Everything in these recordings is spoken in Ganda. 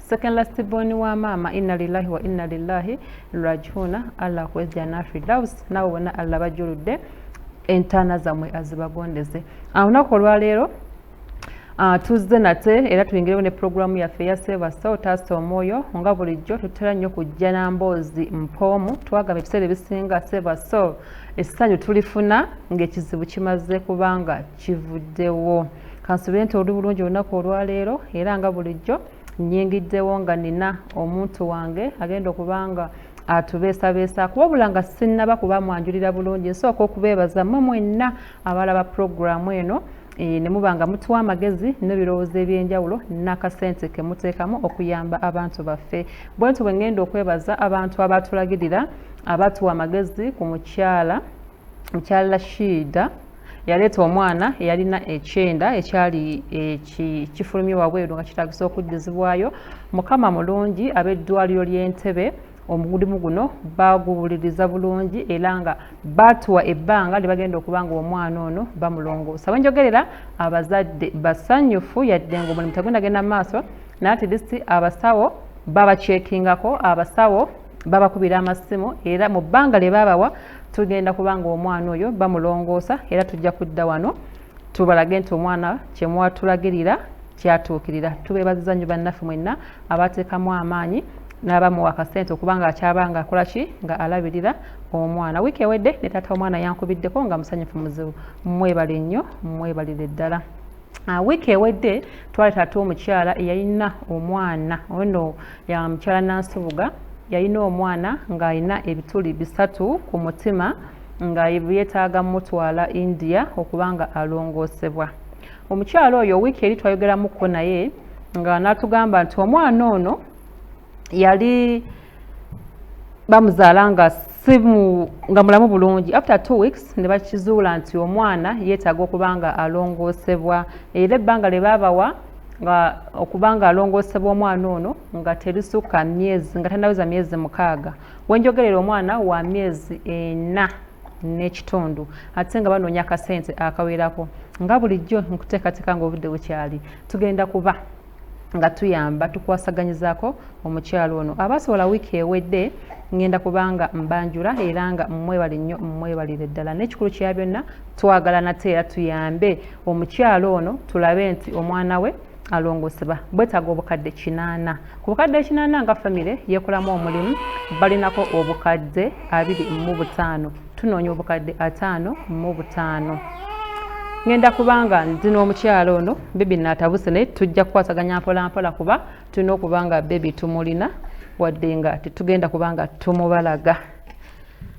second last born wa maama inna lillahi wa inna lillahi rajihuna allah akuwe jana fidaus nabo bona allah bajuludde entaana zammwe azibagondeze ah, olunaku olwaleero ah, tuzze nate era tuyingirewo ne pulogulaamu yaffe eya sevasa otaasa omwoyo nga bulijjo tutera nnyo kujja na mboozi mpoomu twagamba ebiseera ebisinga sevasa essanyu tulifuna ng'ekizibu kimaze kubanga kivuddewo kansube nti oli bulungi olunaku olwaleero era nga bulijjo nyingiddewo nga nina omuntu wange agenda okubanga atubeesabeesaako wabula nga sinnaba kuba mwanjulira bulungi nsooka okubeebaza mwe mwenna abalaba pulogulaamu eno eh, ne muba nga mutuwa amagezi n'ebirowoozo eby'enjawulo n'akasente ke muteekamu okuyamba abantu baffe bwe nti bwe ŋŋenda okwebaza abantu abaatulagirira abatuwa amagezi ku mukyala ekya Rashida yaleeta omwana eyalina ekyenda ekyali kifulumye wabweru nga kitaagisa okuddizibwayo mukama mulungi ab'eddwaliro ly'entebe omugulimu guno baguwuliriza bulungi era nga baatuwa ebbanga lye bagenda okuba nga omwana ono bamulongoosa wenjogerera abazadde basanyufu yadde nga omulimu tagenda genda maaso naye atilisi abasawo babakyekingako abasawo babakubira amasimu era mu bbanga lye babawa tugenda kuba nga omwana oyo bamulongoosa era tujja kudda wano tubalage nti omwana kyemwatulagirira kyatuukirira tubeebaziza nnyo bannaffe mwenna abateekamu amaanyi n'abamuwa akasente okuba nga akyaba nga akola ki nga alabirira omwana wiiki ewedde ne taata omwana yankubiddeko nga musanyufu muzibu mwebale nnyo mwebalire ddala ah, wiiki ewedde twali taata omukyala eyalina omwana ono ya mukyala nansubuga yalina omwana ng'alina ebituli bisatu ku mutima nga yetaaga mutwala india okuba nga alongoosebwa omukyala oyo wiiki eri twayogeramuko naye nga natugamba nti omwana ono yali bamuzaala nga simu nga mulamu bulungi after two weeks ne bakizuula nti omwana yeetaaga okuba nga alongoosebwa era ebbanga lye baabawa nga okuba nga alongoosebwa omwana ono nga terisukka myezi nga tanaweza myezi mukaaga wenjogerera omwana wa myezi ena n'ekitundu ate nga banoonya akasente akawerako nga bulijjo nkuteekateeka nga obudde bukyali tugenda kuba nga tuyamba tukwasaganyizaako omukyalo ono abasobola wiiki ewedde ngenda kubanga mbanjula era nga mwebale nnyo mwebalire ddala n'ekikulu kya byonna twagala nate era tuyambe omukyala ono tulabe nti omwana we alongosebwa bwetaaga obukadde kinaana ku bukadde kinaana nga famire yekolamu omulimu balinako obukadde abiri mu butaano tunoonya obukadde ataano mu butaano ngenda kubanga ndi n'omukyala ono bebi naatabuse naye tujja kukwataganya mpolampola kuba tulina okuba nga bebi tumulina wadde nga tetugenda kuba nga tumubalaga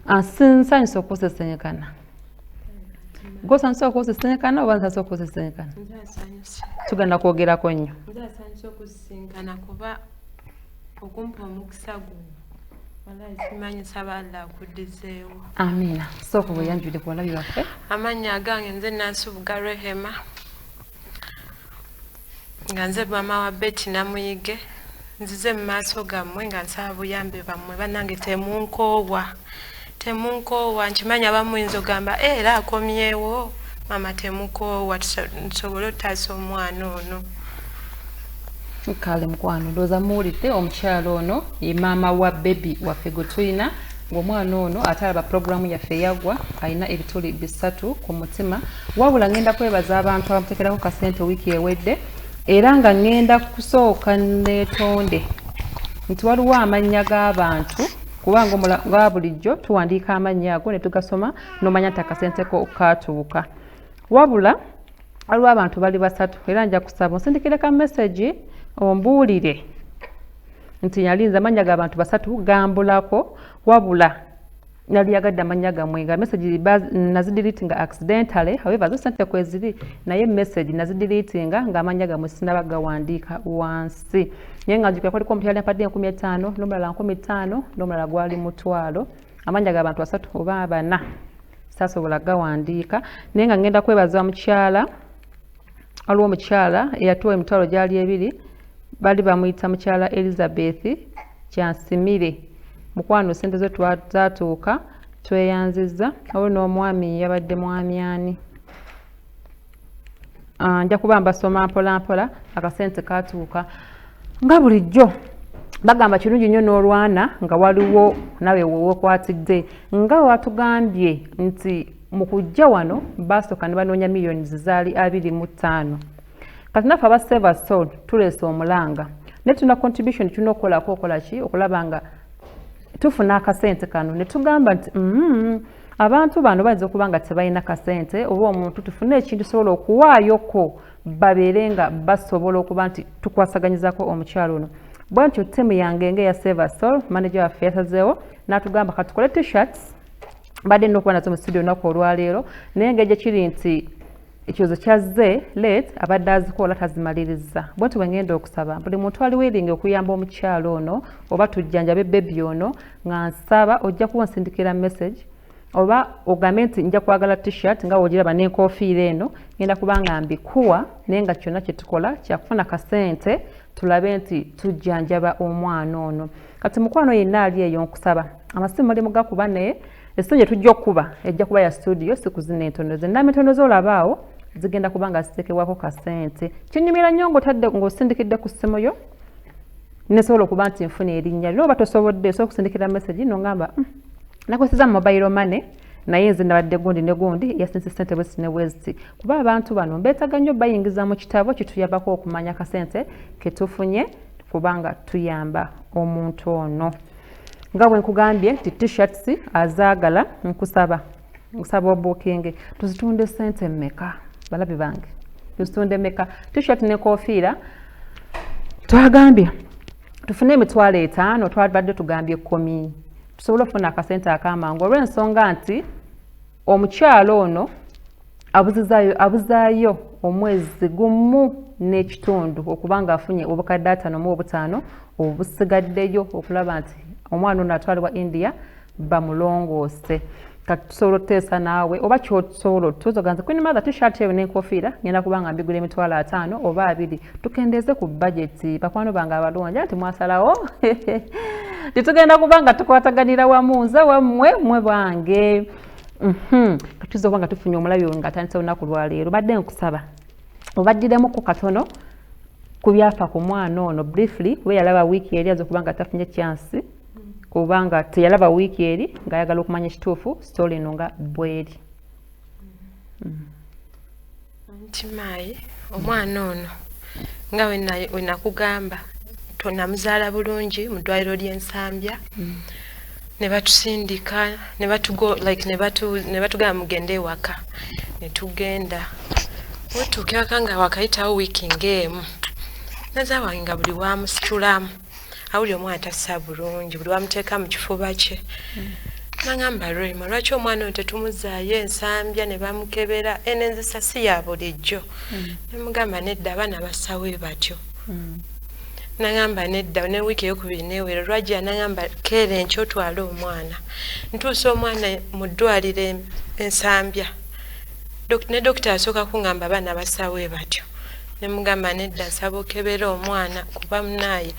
ah, nsanyusa okusesenyekana gwosanyusa okusisinkana oba nsanyusa okusisinkana tugenda kwogerako nnyo nsanyusa okusisinkana kuba okumpa omukisa guno amiina sooka weyanjulire ku balabi baffe amannya agange nze nansubuga rehema nga nze maama wa beti namuyige nzize mu maaso gammwe nga nsaba buyambi bammwe bannange temunkoowa temunkoowa nkimanyi abamu yinza ogamba eh, era akomyewo maama temukoowa nsobole otaasa omwana ono kale mukwano ndooza muwulidde omukyalo ono ye maama wa bebi waffe gwe tulina ng'omwana ono ate alaba pulogulaamu yaffe yagwa alina ebituli bisatu ku mutima wabula ngenda kwebaza abantu abamutekerako kasente wiiki ewedde era nga ngenda kusooka netonde nti waliwo amannya g'abantu kubanga nga bulijjo tuwandiika amannya ago netugasoma nomanya nti akasente ko katuuka wabula waliwo abantu bali basatu era nja kusaba onsindikire ka mesagi ombuulire nti yalinza amannya g'abantu basatu gambulako wabula nali yagadde amannya gamwe nga message nazidilitinga accidentally however zo sente kweziri naye message nazidilitinga nga amannya gamwe sinaba gawandiika wansi naye nga njukira kwaliko omukyala yampadde enkumi etaano n'omulala nkumi ttaano n'omulala gwali mutwalo amannya ga bantu basatu oba abana saasobola gawandiika naye nga ngenda kwebaza mukyala waliwo omukyala eyatuwa emitwalo gyali ebiri bali bamuyita mukyala elizabeth kyansimire mukwano sente zo zatuuka tweyanziza oba n'omwami yabadde mwami ani ah, nja kuba mbasoma mpolampola akasente katuuka nga bulijjo bagamba kirungi nnyo n'olwana nga waliwo nawe wewekwatidde nga watugambye nti mu kujja wano baasooka ne banoonya millions zaali abiri mu ttaano kati naffe aba saver soul tuleese omulanga naye tulina contribution tulina okukolako okola ki okulaba nga tufuna akasente kano ne tugamba nti mm, abantu bano bayinza okuba nga tebalina kasente oba omuntu tufune ekintu sobola okuwaayoko babeere nga basobola okuba nti tukwasaganyizako omukyalo ono bwentyo tiimu yange nga eya saver soul manager waffe yasazeewo n'atugamba katukole t-shirts badde nina okuba nazo mu studio olunaku olwaleero naye nga egyekiri nti ekyozo kyazze let abadde azikola tazimaliriza bwenti bwe ngenda okusaba buli muntu ali wiringi okuyamba omukyalo ono oba tujjanjabe bebi ono nga nsaba ojja kuba onsindikira message oba ogambe nti nja kwagala t-shirt nga wogiraba n'enkofiira eno ngenda kuba nga mbikuwa naye nga kyonna kye tukola kyakufuna kasente tulabe nti tujjanjaba omwana ono kati mukwano yenna ali eyo nkusaba amasimu muli mugakuba naye esimu gye tujja okukuba ejja kuba ya studio sikuzina entono ze namba entono ze olabaawo zigenda kuba nga ziteekebwako kasente kinyumira nnyo ngaotadde ngaosindikidde ku ssimu yo nesobola okuba nti nfuna erinnya lyo oba tosobodde osobola okusindikira message nongamba hmm, nakozesa mobile money naye nze nabadde gundi ne gundi yasinze sente bwesi ne bweziti kuba abantu bano mbetaga nnyo bayingiza mu kitabo kituyambako okumanya kasente ketufunye kubanga tuyamba omuntu ono nga bwe nkugambye nti tshirts azaagala nkusaba nkusaba obukinge tuzitunde sente mmeka balabi bange tuzitunde mmeka tshirt ne kofiira twagambye tufune emitwalo etaano twabadde tugambye kkomi tusobole okufuna akasente akamangu olw'ensonga nti omukyalo ono abuzizayo abuzaayo omwezi gumu n'ekitundu okuba nga afunye obukadde atano mu obutaano obusigaddeyo okulaba nti omwana ono atwalibwa india bamulongoose kati tusobola otuteesa naawe oba kyotusobola otutuuza oganza queen mother t-shirt eyo n'enkofiira ngenda kuba nga mbigula emitwalo ataano oba abiri tukendeeze ku bajeti bakwano bange abalungi nti mwasalawo tetugenda kuba nga tukwataganira wamu nze wammwe mwe bange mhm. katuza oba nga tufunye omulabi oyo nga atandisa olunaku lwaleero badde nkusaba obaddiramu ku katono ku byafa ku mwana ono briefly kuba yalaba wiiki yali aza okuba nga tafunye kyansi kuba nga teyalaba wiiki eri ng'ayagala okumanya ekituufu sitoola eno nga bweri nti maayi omwana ono nga wenakugamba tonamuzaala bulungi mu ddwaliro ly'ensambya mm. ne batusindika ne batugo like ne batu ne batugamba mugende ewaka ne tugenda wetuuka ewaka nga wakayitawo wiiki ng'emu naza wange nga buli wamusitulamu mm. awuli omwana tassa bulungi buli wamuteeka mu kifuba kye mm. nangamba rema lwaki omwana oyo tetumuzaayo ensambya ne bamukebera eno enzisa si ya bulijjo mm. nemugamba nedda abaana bassawo batyo mm. nangamba nedda ne wiiki eyokubiri newero lwajja nangamba keera enkyo otwale omwana ntuusa omwana mu ddwaliro ensambya ne dokita asooka kungamba abaana basaawe batyo nemugamba nedda nsaba okebera omwana kuba munaaye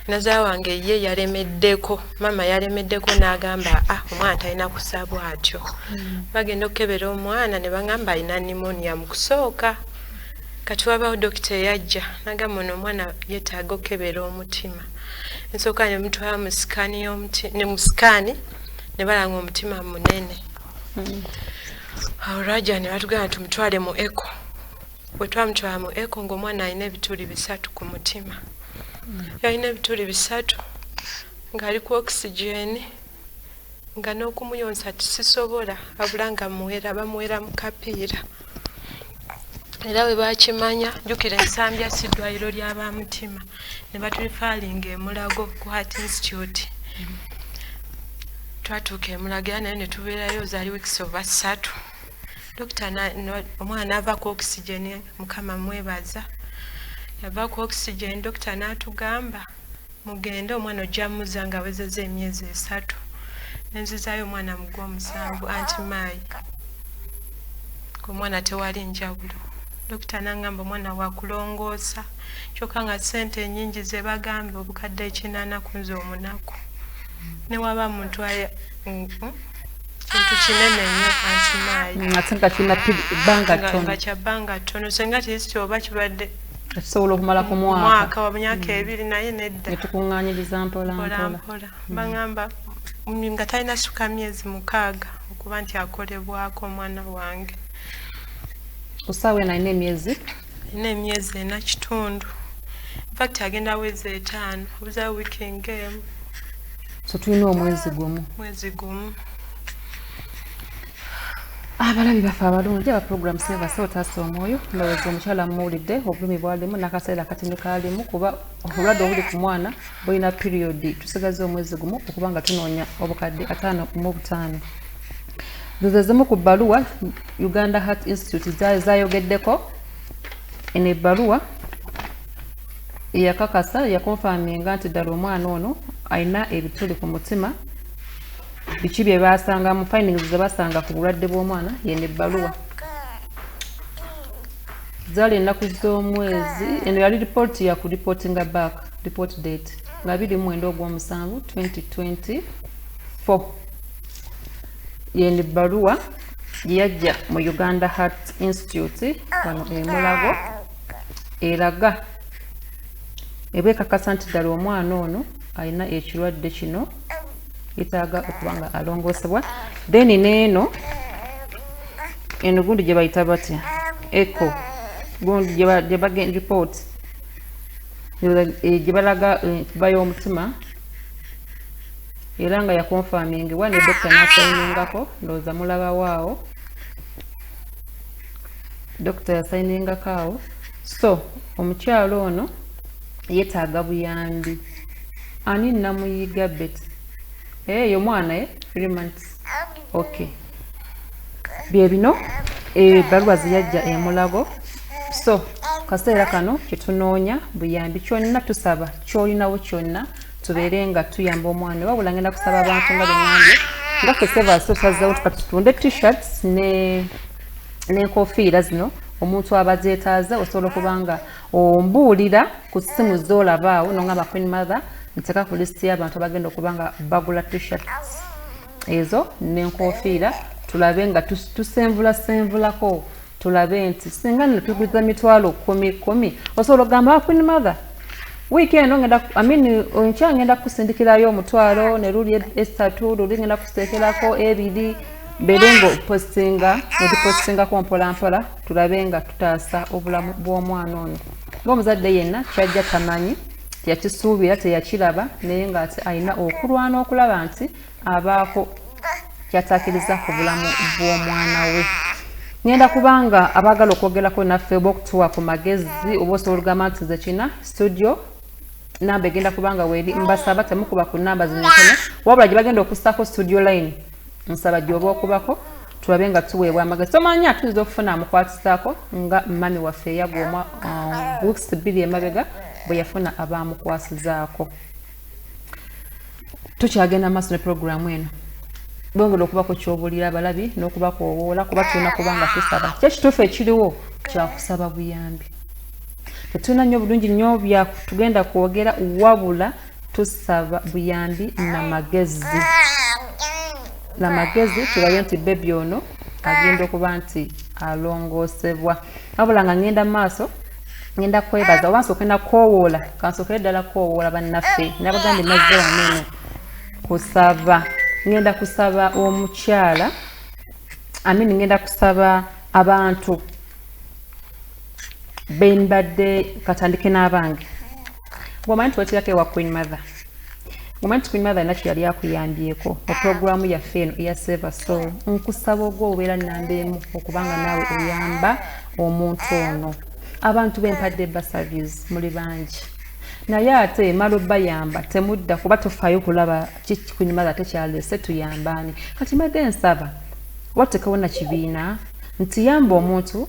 naza wange ye yalemeddeko maama yalemeddeko n'agamba a ah, omwana talina kusabwa atyo hmm. bagenda okukebera omwana ne bagamba alina nimonia mu kusooka kati wabawo dokita eyajja nagamba ono omwana yetaaga okukebera omutima nsooka ne mutwala mu sikaani ne mu sikaani ne balanga omutima munene hmm. awo raja ne batugamba tumutwale mu eko bwe twamutwala mu eko ng'omwana alina ebituli bisatu ku mutima yalina ebituli bisatu ng'ali ku oxygen nga n'okumuyonsa tisisobola abula nga muwera bamuwera mu kapiira era bwe bakimanya jjukira ensambya si ddwaliro lya ba mutima ne batulifaalinga emulago ku heart institute twatuuka emulago era naye ne tubeerayo zaali wiikisi oba ssatu dokita omwana ava ku oxygen mukama mwebaza yava ku oxygen dokita n'atugamba mugende omwana ojja muza nga awezeza emyezi esatu nenzizayo omwana mu gwomusanvu anti maayi omwana tewali njawulo dokita nangamba omwana wakulongoosa kyoka nga sente enyingi zebagambye obukadde ekinana kunze omunaku newaba muntu aye kintu kinene nyo anti mayi mm, ate nga kina banga tono nga kya banga tono senga tisi oba kibadde tusobola okumala ku mwaka mwaka wa myaka mm. ebiri naye nedda netukunganyiriza mpola mpola mpola mm. bangamba nga talina suka myezi mukaaga okuba nti akolebwako omwana wange kusaawa eno alina emyezi alina emyezi ena kitundu infact agenda wezi etaano obuza weekend game so tulina omwezi gumu mwezi gumu abalabi baffe abalungi aba program sebasa otaasa omwoyo ndowooza omukyala muwulidde obulumi bwalimu n'akaseera akatini kaalimu kuba obulwadde obuli ku mwana bulina piriyodi tusigaza omwezi gumu okuba nga tunoonya obukadde ataano mu butaano zezezimu ku bbaluwa uganda heart institute zayogeddeko eno ebbaluwa eyakakasa yakonfaminga nti ddala omwana ono alina ebituli ku mutima biki bye baasanga mu findings ze basanga ku bulwadde bw'omwana yeno ebbaluwa zaali ennaku z'omwezi eno yali lipooti ya ku reportinga back report date nga biri mu mwenda ogw'omusanvu 2024 yeni bbaluwa yajja mu uganda heart institute wano emulago eraga eba ekakasa nti ddala omwana ono alina ekirwadde kino yetaaga okuba nga alongoosebwa then neeno eno gundi gye bayita batya eco gundi gyebagenda report gyebalaga eh, kuba y'omutima era nga yakonfamingibwa ne dokita nasayiningako ndowooza mulabawo awo dokita yasayiningako awo so omukyalo ono yetaaga buyambi ani namuyiga bet eh, eyo mwana ye eh? three months ok byebino ebaluwa eh, zeyajja emulago so kaseera kano kyetunoonya buyambi kyonna tusaba kyolinawo kyonna tubeere nga tuyamba omwana oba bula ngenda kusaba abantu nga bengambye nga ffe sebaso tazzawo tukati tutunde t-shirts n'enkofiira zino omuntu aba zetaaze osobola okuba nga ombuulira ku ssimu zolabaawo nongamba queen mother nteka ku lisiti y'abantu abagenda okuba nga bagula t-shirts ezo nenkofiira tulabe nga tusenvula senvulako tulabe nti singa nno tuguza mitwalo kumi kumi osobola ogamba queen mother wiiki eno ngenda amin nkya ngenda kukusindikirayo omutwalo ne luli esatu luli ngenda kuseekerako ebiri mbeere ngaopostinga otupostingako mpolampola tulabe nga tutaasa obulamu bw'omwana ono ngaomuzadde yenna kyajja tamanyi yakisuubira teyakiraba naye ng'ate alina okulwana okulaba nti abaako kyatakiriza ku bulamu bw'omwana we ngenda kubanga abaagala okwogerako naffe oba okutuwa ku magezi oba osobola ogamba nti nze kina studio namba egenda kubanga weeri mbasaba temukuba ku namba zino ntono wabula gye bagenda okussaako studio line nsaba gyoba okubako tulabe nga tuweebwa amagezi tomanyi atuyinza okufuna amukwatisaako nga mami waffe eyagwa omwa um, weeks bbiri emabega bwe yafuna abaamukwasizaako tukyagenda maaso ne puroguramu eno bongera okuba ku kyobuulira abalabi n'okubakoowoola kuba tulina kuba nga tusaba kyo ekituufu ekiriwo kyakusaba buyambi tetulina nnyo bulungi nnyo byatugenda kwogera wabula tusaba buyambi na magezi na magezi tulabe nti bebi ono agenda okuba nti alongoosebwa wabula nga ngenda maaso ngenda kwebaza oba nsooke nakowoola kansookere ddala kowoola bannaffe nabagambye mazze waneeno kusaba ngenda kusaba omukyala amin ngenda kusaba abantu benbadde katandike n'abange Ngomanyi nti wakirako ewa Queen Mother. Ngomanyi nti Queen Mother nakyo yali akuyambyeko mu pulogulaamu yaffe eno eya Seva Soul. Nkusaba ogwo obeera nnamba emu okubanga naawe oyamba omuntu ono. Abantu bempadde basavies muli bangi. Naye ate emala obayamba temudda kuba tufaayo kulaba kiki Queen Mother tekyaleese tuyambaani. Kati mbadde nsaba watekewo na kibiina nti yamba omuntu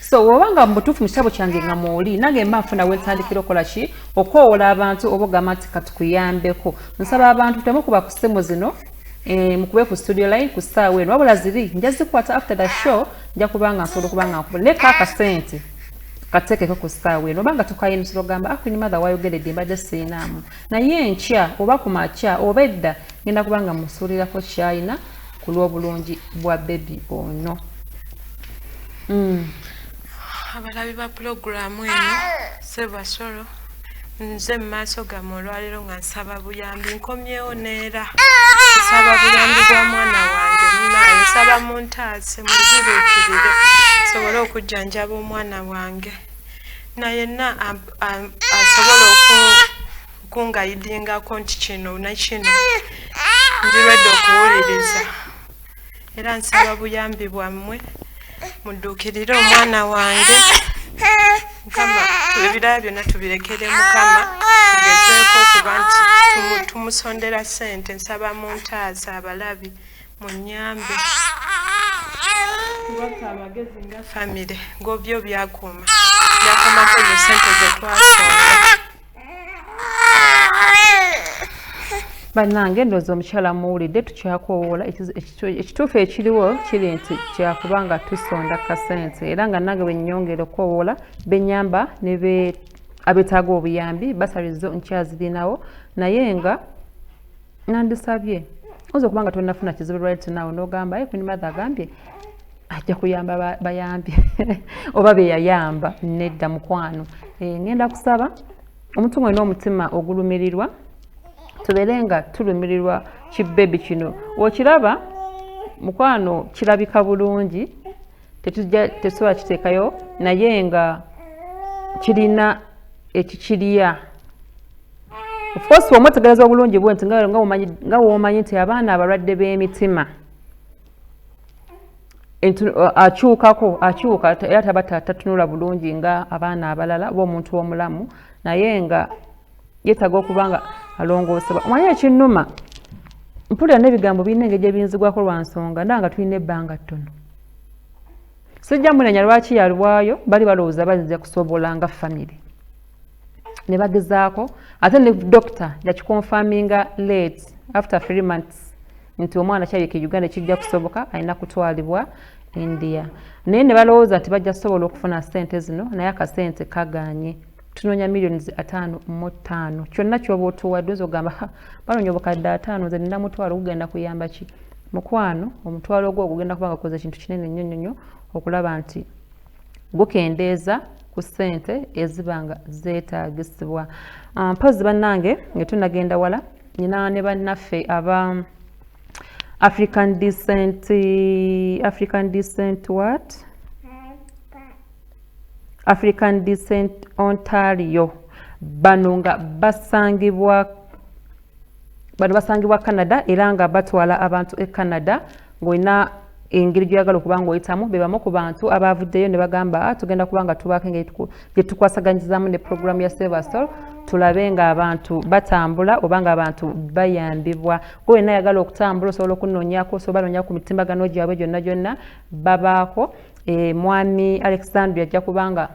so woba nga mubutuufu mu kitabo kyange nga mwoli nange mba nfuna wentandikira okola ki okwowola abantu oba ogamba nti katukuyambeko nsaba abantu temu kuba ku simu zino eh, mukube ku studio line ku saawa eno wabula ziri nja zikwata after the show nja kubanga nsobola okubanga nkuba naye ka akasente katekeko ku saawa eno obanga tukaye emisolo gamba akunyuma ah, other wayogeredde mbadde siinaamu naye enkya oba ku makya oba edda ngenda kubanga musuulirako kyayina ku lw'obulungi bwa bebi ono hmm. abalabi ba pulogulaamu eno sebasolo nze mu maaso gamu olwaleero nga nsaba buyambi nkomyewo neera nsaba buyambi bwa mwana wange munaye nsaba muntaase muzibuukirire sobole okujjanjaba omwana wange naye na asobola oku kungayidingako nti kino nakino ndirwedde okuwuliriza era nsaba buyambi bwammwe mudduukirire omwana wange mukama ebiraya byonna tubirekere mukama tugezeeko okuba nti tumusondera ssente nsaba mu ntaasa abalabi mu nyambe kubaka amagezi nga famire gobyo byakuuma byakuumako mu ssente zetwasonga bannange ndoozi omukyala muwulidde tukyakowoola ekituufu ekiriwo kiri nti kyakuba nga tusonda kasente era nga nange bwenyongera okukowoola benyamba ne abetaaga obuyambi basalizo nkyazirinawo naye nga nandisabye oyinza okuba nga tonafuna kizibu right now nogamba ye kunimada agambye ajja kuyamba bayambi oba beyayamba nedda mukwano eh, ngenda kusaba omuntu mwena omutima ogulumirirwa tubeere nga tulumirirwa kibebi kino okiraba mukwano kirabika bulungi tetusobola kiteekayo naye nga kirina ekikirya ofcourse wamwetegereza obulungi bwe nti nga womanyi nti abaana abalwadde b'emitima akyukako akyuka era taba tatunula bulungi nga abaana abalala oba omuntu omulamu naye nga yetaga okuba nga alongoosebwa omanye ekinnuma mpulira n'ebigambo birina engeri gyebiyinzibwako lwa nsonga nda nga tulina ebbanga ttono sijja munenya lwaki yalwayo bali balowooza bayinza kusobola nga famire ne bagezaako ate ne dokita yakikonfaminga late after three months nti omwana kyabika e uganda kijja kusoboka alina kutwalibwa india naye ne balowooza nti bajja kusobola okufuna sente zino naye akasente kaganye tunoonya millions ataano mu ttaano kyonna kyoba otuwadde oza ogamba banoonya obukadde ataano nze nina mutwalo gugenda kuyamba ki mukwano omutwalo ogwo ogugenda kuba nga koza ekintu kinene nnyo nnyo nnyo okulaba nti gukendeeza ku ssente eziba nga zeetaagisibwa ah, mpozzi bannange nga tunagenda wala nyina ne bannaffe aba african decent african decent what african decent ontario bano nga basangibwa bano basangibwa canada era nga batwala abantu e canada ng'olina engeri gyoyagala okuba ngaoyitamu bebamu ku bantu abaavuddeyo ne bagamba ah, tugenda kuba nga tubaako engeri gye tukwasaganyizamu ne puroguramu ya silversol tulabe ng'abantu batambula oba ng'abantu bayambibwa gwe wenna ayagala okutambula osobola okunoonyako osobola noonya ku mitimbagano gyabwe gyonna gyonna babaako eh, mwami alexandria ajja kubanga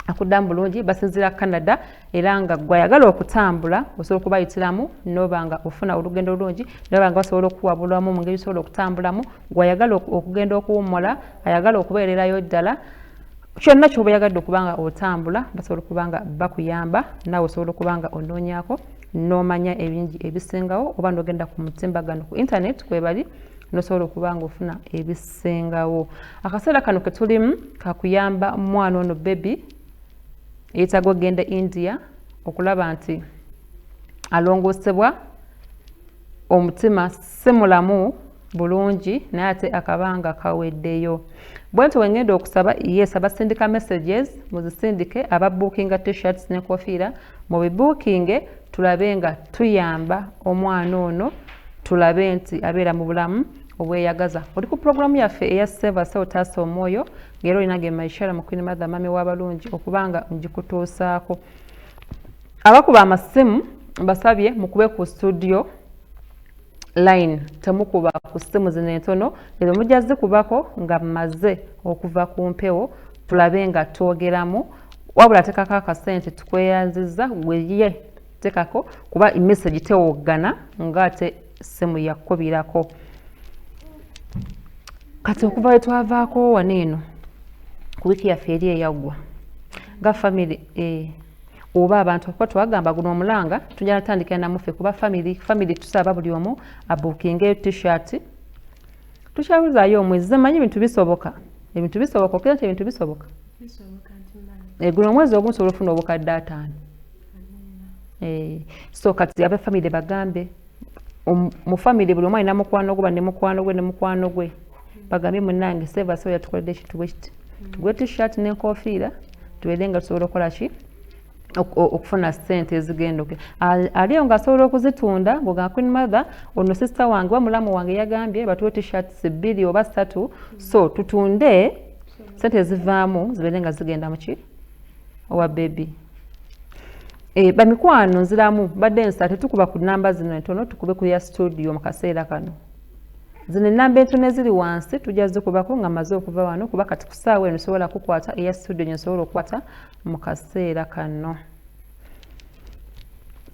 akuddamu bulungi basinzira canada era nga gwe ayagala okutambula osobola okubayitiramu noba nga ofuna olugendo olulungi noba nga basobola okukuwabulamu mu ngeri osobola okutambulamu gwe ayagala okugenda okuwummula ayagala okubeererayo ddala kyonna kyoba oyagadde okuba nga otambula basobola okuba nga bakuyamba naawe osobola okuba nga onoonyako n'omanya ebingi ebisingawo oba n'ogenda ku mutimbagano ku internet kwebali nosobola okuba nga ofuna ebisingawo akaseera kano ketulimu kakuyamba mwana ono bebi yeetaaga okugenda e india okulaba nti alongoosebwa omutima si mulamu bulungi naye ate akabanga kaweddeyo bwe nti wengenda okusaba yes abasindika messages muzisindike ababuukinga tshirts ne kofiira mubibuukinge tulabe nga tuyamba omwana ono tulabe nti abeera mu bulamu obweyagaza oli ku pulogulaamu yaffe eya seva seotaasa omwoyo era olina ge maishara mukwini matha mami wabalungi okuba nga ngikutuusaako abakuba amasimu mbasabye mukube ku studio line temukuba ku simu zino entono ezo mujja zikubako nga mmaze okuva ku mpewo tulabe nga twogeramu wabula tekako akasente tukweyanziza gweye tekako kuba emessage tewoggana ngaate ssimu yakukubirako kati okuva we twavaako wano eno ku wiiki yaffe eri eyaggwa nga famiry eh, oba abantu kuba twagamba guno omulanga tujja natandikira namuffe kuba famiry famiry tusaba buli omu abukinga eyo tshirt tukyabuzaayo omwezi zemanyi ebintu bisoboka ebintu bisoboka okira nti ebintu bisoboka egula omwezi ogumu sobola ofuna obukadde ataano eh, so kati abe famire bagambe um, mu famire buli omwali namukwano gwe banemukwano gwe nemukwano gwe bagambye munange seva sobola tukoledde ekintu bwekiti tugwe tishirt nenkofiira tubeere nga tusobola okukola ki okufuna sente ezigenda oke aliyo nga asobola okuzitunda ngoga queen mother ono sister wange oba mulamu wange yagambye batuwe tshirts bbiri oba ssatu so tutunde sente ezivaamu zibeere nga zigenda muki owa bebi e, eh, bamikwano nziramu badde nsa tetukuba ku namba zino entono tukube ku ya studio mu kaseera kano zino enamba entono eziri wansi tujja zikubako nga maze okuva wano kuba kati kusaawa eno sobola kukwata eya studio nyo sobola okukwata mu kaseera kanno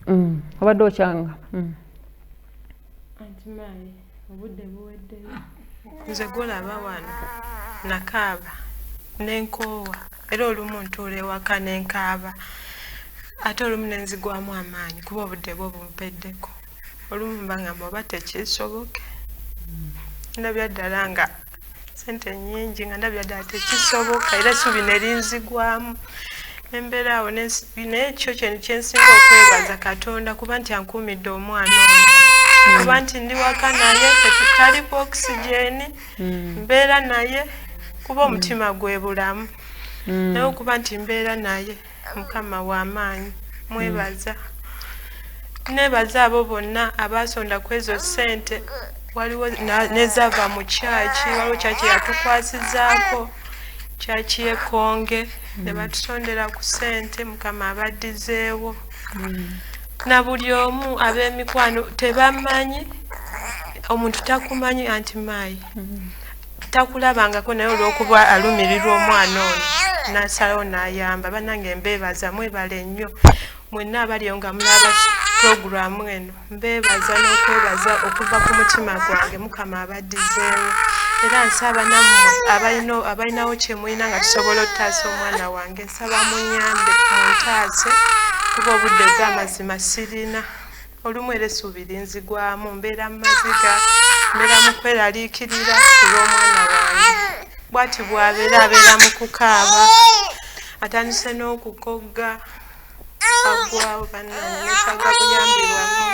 mm. obadde okyanga mm. nze gulaba wano nakaaba nenkoowa era olumu ntuula ewaka nenkaaba ate olumu nenzigwamu amaanyi kuba obudde bwo bumpeddeko olumu mbangamba oba tekisoboke ndabya ddala nga sente nyingi nga ndabya ddala tekisoboka era subi nerinzigwamu embeera awo nekyo kyeni kyensinga okwebaza katonda kuba nti ankuumidde omwana oyo kuba nti ndi waka naye tetutali ku okisijeni hmm. mbeera naye kuba omutima gwe bulamu hmm. naye okuba nti mbeera naye mukama wamaanyi mwebaza nebaza abo bonna abaasonda ku ezo ssente waliwo nezava mu kyaki waliwo kyaki yatukwasizaako kyaki yekonge ne mm. batusondera ku ssente mukama abaddizeewo mm. na buli omu ab'emikwano tebamanyi omuntu takumanyi anti maayi mm. takulabangako naye olwokuba alumirirwa omwana ono nasalawo nayamba banange mbebaza mwebale nnyo mwenna abaliyo nga mulaba puroguramu eno mbebaza n'okwebaza okuva ku mutima gwange mukama abaddizeemu era nsaba nammwe abalinawo kyemulina nga tusobola okutaasa omwana wange nsaba munyambe muntaase kuba obudde bwamazima sirina olumu era essuubi linzigwamu mbeera mu maziga mbeera mu kweraliikirira kulw'omwana wange bwati bwabeera abeera mu kukaaba atandise n'okukogga agwawo bannanetaga buyambibwamu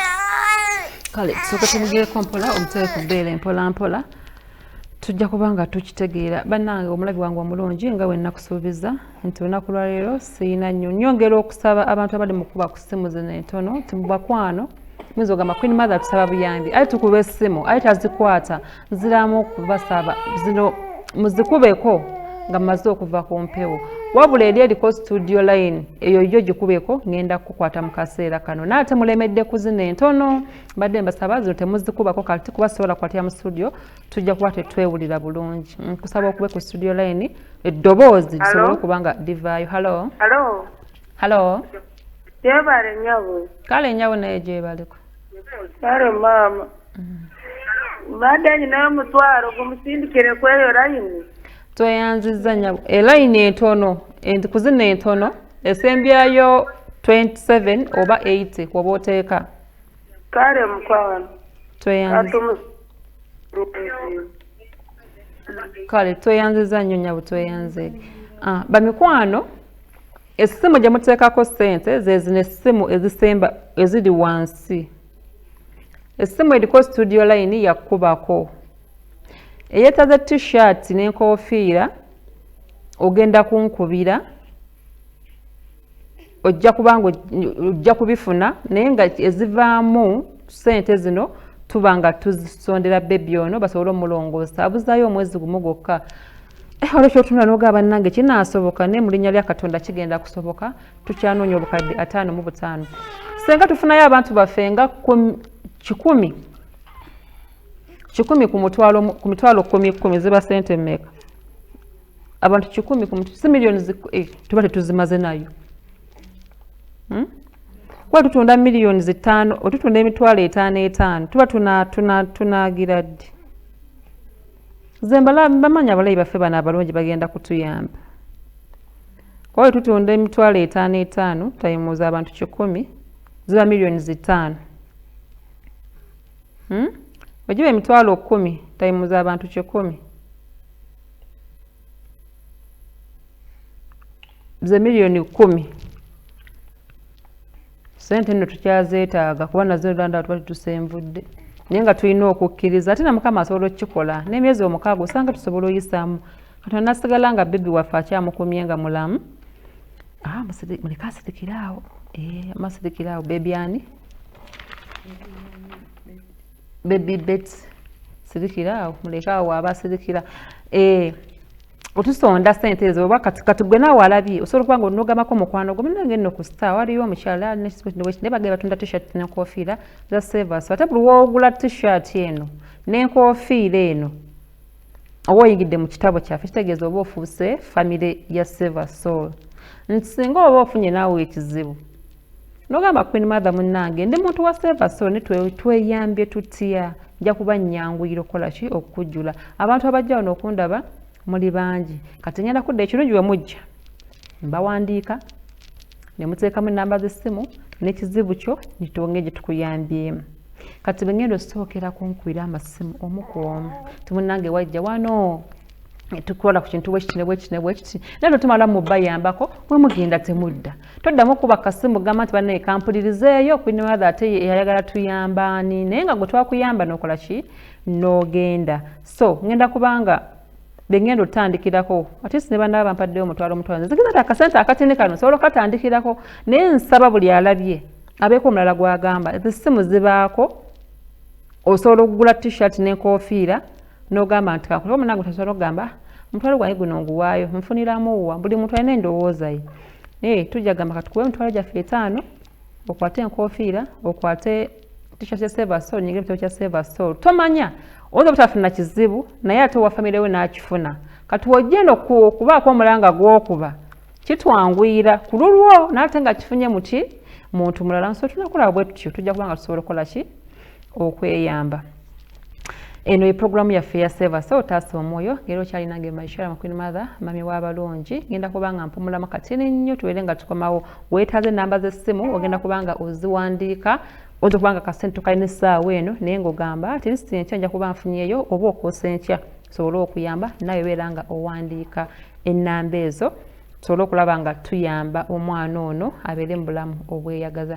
kale tusooka tumugeeko mpola omutere ku bbeera empola mpola tujja kuba nga tukitegeera bannange omulabi wange omulungi nga wennakusuubiza nti olunaku lwaleero sirina nnyo nyongera okusaba abantu abali mukuba ku ssimu zino entono nti mubakwano muyinza ogamba queen mother tusaba buyambi aye tukuba essimu aye tazikwata nziramu okubasaba zino muzikubeko nga mumaze okuva ku mpewo wabula eri eriko studio line eyo yo gikubeko ngenda kukukwata mu kaseera kano naye ate mulemedde ku zino entono mbadde mbasaba zino temuzikubako kati kuba sobola kukwatira mu studio tujja kuba tetwewulira bulungi nkusaba okube ku studio line eddoboozi lisobole okuba nga livaayo halo halo gyebale nyabo kale nyabo naye gyebaleko kale maama mbadde mm. nyinayo omutwalo gumusindikire kweyo layini tweyanziza nyabo elayini entono kuzina entono esembyayo 27 oba 80 woba oteeka kale mukwano kale tweyanziza nnyo nyabo tweyanze ah, bamikwano essimu gye muteekako ssente zezino essimu ezisemba eziri wansi essimu eriko studio line yakubako eyetaze t-shirt n'enkofiira ogenda kunkubira ojja kubanga ojja kubifuna naye nga ezivaamu sente zino tuba nga tuzisondera bebi ono basobole omulongoosa abuzayo omwezi gumu gwokka eh, olwo kyotunula noga bannange kinaasoboka naye mu linnya lya katonda kigenda kusoboka tukyanoonya obukadde ataano mu butaano senga tufunayo abantu baffe nga kikumi kikumi ku mitwalo kumi kumi ziba sente meka abantu kikumi ku si miliyoni eh, tuba tetuzimaze nayo hmm? kuba tutunda miliyoni zitaano otutunda emitwalo etaano etaano tuba tunagira ddi ze bamanyi abalayi baffe bano abalungi bagenda kutuyamba oyo tutunda emitwalo etaano etaano tayimuuza abantu kikumi ziba miliyoni zitaano hmm? ogiba emitwalo kumi tayimuuza abantu kikumi ze miliyoni kkumi sente nno tukyazeetaaga kuba nazo landa tuba tutusenvudde naye nga tulina okukkiriza ate na mukama asobola okukikola n'emyezi omukaaga osanga tusobola oyisaamu katonda nasigala nga bebi waffe akyamukumye nga mulamu ah, muleke asirikire awo eh, amasirikire awo bebi ani baby bet sirikira awo muleke awo waaba asirikira eh, otusonda sente ezo oba kati kati gwe naawe alabye osobola okuba nga onogamako omukwano gwo munange nno ku star waliyo omukyala naye bagenda batunda t-shirt nenkofiira za savers ate buli woogula t-shirt eno nenkofiira eno oba oyingidde mu kitabo kyaffe kitegeeza oba ofuuse famire ya saver soul nti singa oba ofunye naawe ekizibu nogamba queen mother munange ndi muntu wa silver so ni tweyambye tutya nja kuba nyanguyira okukola ki okukujjula abantu abajja wano okundaba muli bangi kati ngenda kudda ekirungi we mujja mbawandiika ne muteekamu ennamba z'essimu n'ekizibu kyo nitonge gye tukuyambyemu kati bengenda osookera kunkubira amasimu omu ku omu timunange wajja wano tukola ku kintu bwekiti ne bwekiti ne bwekiti naye lwetumala mubayambako mwe mugenda temudda toddamu kuba kasimu gamba nti banaye kampulirizeeyo queen mother ate eyayagala tuyamba ani naye nga gwe twakuyamba nokola ki n'ogenda so ngenda kubanga bengenda otandikirako atisi ne banaba bampaddeyo omutwalo omutwalo nzigeza ti akasente akatini kano nsobola okatandikirako naye nsaba buli alabye abeeko omulala gwagamba ezissimu zibaako osobola okugula t-shirt n'enkofiira n'ogamba nti kakulaba munange otasobola okugamba omutwalo gwange guno nguwaayo nfuniramu wa buli muntu alina endowooza ye naye tujja gamba katukuwe emitwalo gyaffe etaano okwate enkofiira okwate tisha kya seva sol nyingira ekitabo kya seva sol tomanya oyinza obutafuna kizibu naye ate owa famire we n'akifuna kati wojjenda okubaako omulanga gwokuba kitwanguyira ku lulwo naate nga kifunye muki muntu mulala nso tunakulaba bwe tutyo tujja kuba nga tusobola okukola ki okweyamba eno ye programu yaffe ya seva so otaasa omwoyo ngeri okyalinange maishara makwin mother mami wabalungi ngenda kubanga mpumulamu katini nnyo tubeere nga tukomawo wetaaze enamba z'essimu ogenda kubanga oziwandiika oza kubanga kasente tukalina essaawa eno naye ngaogamba ati lisiti enkya nja kuba nfunyeyo oba okwosa enkya tusobole okuyamba naye obeera nga owandiika ennamba ezo tusobole okulaba nga tuyamba omwana ono abeere mu bulamu obweyagaza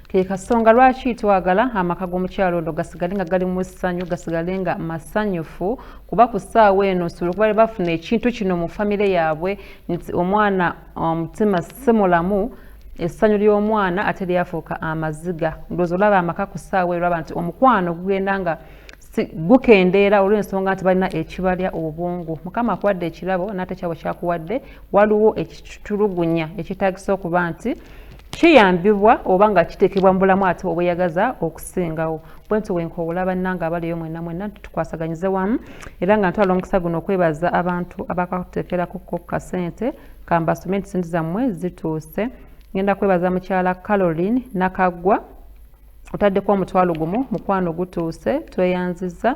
ke kasonga lwaki twagala amaka g'omukyalo ono gasigale nga gali mu ssanyu gasigale nga masanyufu kuba ku ssaawa eno nsobola okuba bafuna ekintu kino mu famire yaabwe nti omwana omutima um, si mulamu essanyu ly'omwana ate lyafuuka amaziga ndowooza olaba amaka ku ssaawa erwaba nti omukwano gugenda nga gukendeera olw'ensonga nti balina ekibalya obwongo mukama akuwadde ekirabo n'ate kyabo kyakuwadde waliwo ekitulugunya ekitaagisa okuba nti Kiyambibwa oba nga kiteekebwa mu bulamu ate obweyagaza okusingawo. Bwentyo bwenkoowola bannange abaliyo mwenna mwenna nti tukwasaganyize wamu era nga ntwala omukisa guno okwebaza abantu abakakuteekerako ko kasente kambasome nti sente zammwe zituuse. Ngenda kwebaza mukyala Caroline Nakaggwa otaddeko omutwalo gumu mukwano gutuuse tweyanziza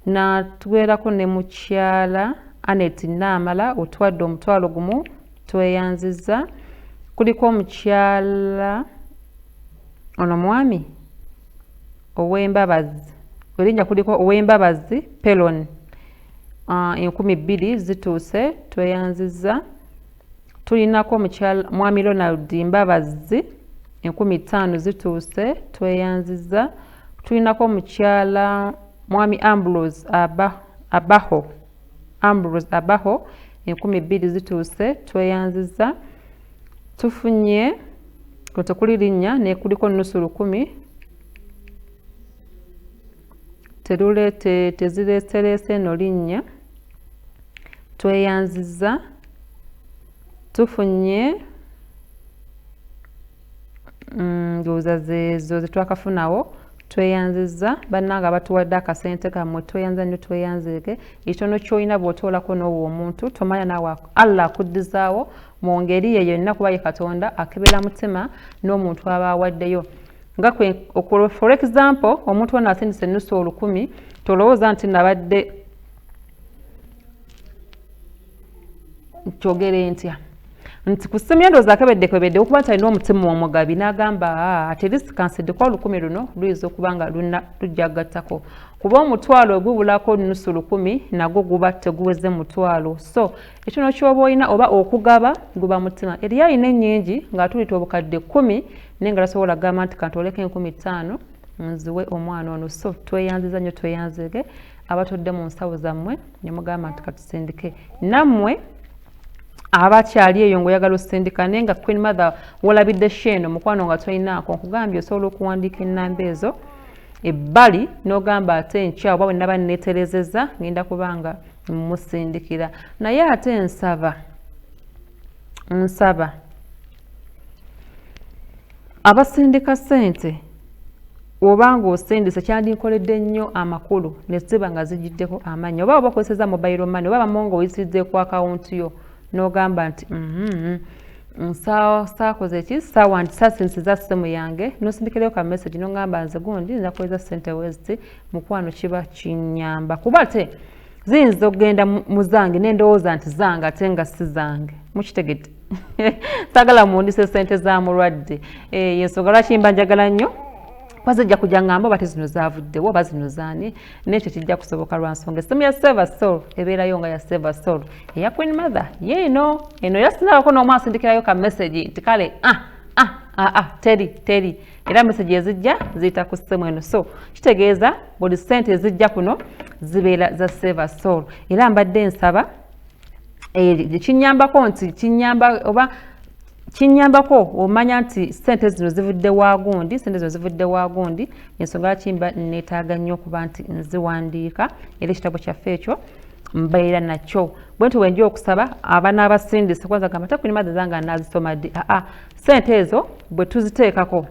natwerako ne mukyala Anet Naamala otwadde omutwalo gumu tweyanziza kuliko omukyala ono mwami owembabazi erinnya kuliko owembabazi pelon ah, enkumi bbiri zituuse tweyanziza tulinako omukyala mwami ronald mbabazi enkumi ttaano zituuse tweyanziza tulinako omukyala mwami ambrose abaho Ambrose Abaho enkumi bbiri zituuse tweyanziza tufunye kwe tekuli linnya nekuliko nusu lukumi teruleete tezireesereese eno linnya tweyanziza tufunye mm, ndowooza zezo zetwakafunawo tweyanziza bannanga abatuwadde akasente kammwe tweyanza nnyo tweyanzeeke ekitono kyolina bwotoolako n'owo omuntu tomanya naawe allah akuddizaawo mu ngeri ye yonna kuba ye katonda akebera mutima n'omuntu aba awaddeyo nga for example omuntu wona asindisa ennusu olukumi tolowooza nti nabadde kyogere ntya nti ku ssimu yendowooza akebeddekebedde okuba nti alina omutima omugabi n'agamba ati erisi kansiddeko olukumi luno luyinza okuba nga luna lujja gattako kuba omutwalo ogubulako nusu lukumi nagwo guba teguweze mutwalo so ekino kyoba olina oba okugaba guba mutima eriyo alina ennyingi ng'atulita obukadde kkumi naye nga tasobola kugamba nti kantooleko enkumi ttaano nziwe omwana ono so tweyanziza nnyo tweyanzege abatodde mu nsawo zammwe ne mugamba nti katusindike nammwe aba akyali eyo ngaoyagala osindika naye nga queen mother wolabidde sheeno mukwano nga tolinaako nkugambye osobola okuwandiika enamba ezo ebbali n'ogamba ate enkya oba bwe naba neeterezeza ngenda kubanga musindikira naye ate nsaba nsaba abasindika ssente oba ng'osindise kyandinkoledde nnyo amakulu ne ziba nga zigiddeko amannyi oba oba okozeseza mobile money oba bamu ng'oyisiridde ku akawunti yo n'ogamba nti mm-hmm, saakoze ki sasinsiza ssimu yange nosindikirayo ka message n'ogamba nze gundi nzakozesa ssente weziti mukwano kiba kinyamba kuba te ziyinza okugenda mu zange nendowooza nti zange ate nga si zange mukitegedde sagala muwundise sente za mulwadde eh, yensonga lwaki mba njagala nnyo kwaze ejja kujja ngamba oba tezino zavuddewo oba zino zaani nekyo kijja kusoboka lwa nsonga essimu ya seva sol ebeerayo nga ya seva sol eya queen mother yeeno eno era sinabako n'omu asindikirayo ka message nti kale ah ah ah ah teri teri era meseji ezijja ziyita ku ssemu eno so kitegeeza buli sente ezijja kuno zibeera za saver soul era mbadde nsaba eh, kinyambako nti kinyamba oba kinyambako omanya nti sente zino zivudde wagundi sente zino zivudde wagundi ensonga lwaki mba neetaaga nnyo okuba nti nziwandiika era ekitabo kyaffe ekyo mbeera nakyo bwentyo bwenja okusaba abana abasindise kwanza gamba tekuni madha zange anazisoma ddi aa ah, ah, sente ezo bwe tuziteekako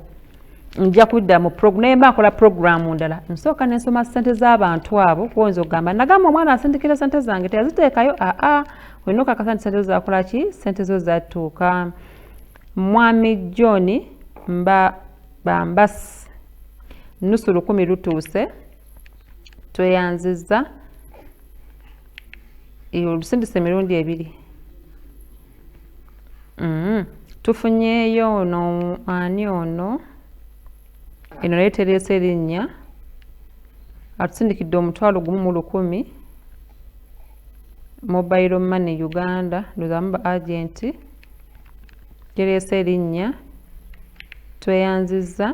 nja kudda mu naye mba nkola programu ndala nsooka nensoma sente z'abantu abo kuwonza okugamba nagamba omwana asindikira sente zange teyaziteekayo aa ah, olina okakasa nti sente zo zakola ki sente zo zatuuka mwami john mba bambasi nusu lukumi lutuuse tweyanzizza olusindise emirundi ebiri mm-hmm. tufunyeeyo ono ani ono eno naye tereesa erinnya atusindikidde omutwalo gumu mu lukumi mobile money uganda ndozamu ba agenti tereesa erinnya tweyanzizza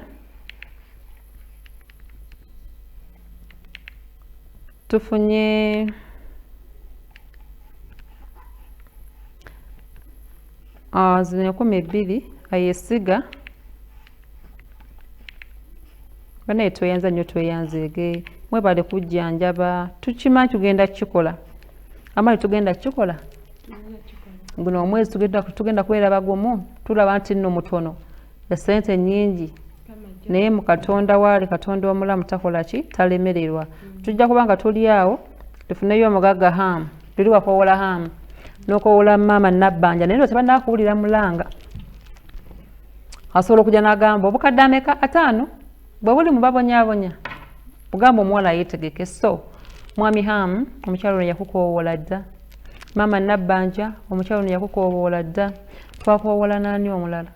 tufunye ah, zino enkumi bbiri ayesiga banaye tweyanza nnyo tweyanzeege mwebale kujjanjaba tukimanyi tugenda kukikola amali tugenda kukikola guno omwezi tugenda kubeera bagumu tulaba nti nno mutono esente nyingi naye mu katonda waali katonda omulamu takola ki talemererwa mm. tujja kuba nga tuli awo tufuneyo omugagga hamu tuli wakowola hamu nokowola maama nabbanja naye no tebanakuwulira mulanga asobola okujja nagamba obukadde ameka ataano bwe buli mubabonyabonya ogamba omuwala yetegeke so mwami ham omukyalo ono yakukowoola dda maama nabbanja omukyalo ono yakukowoola dda twakowoola naani omulala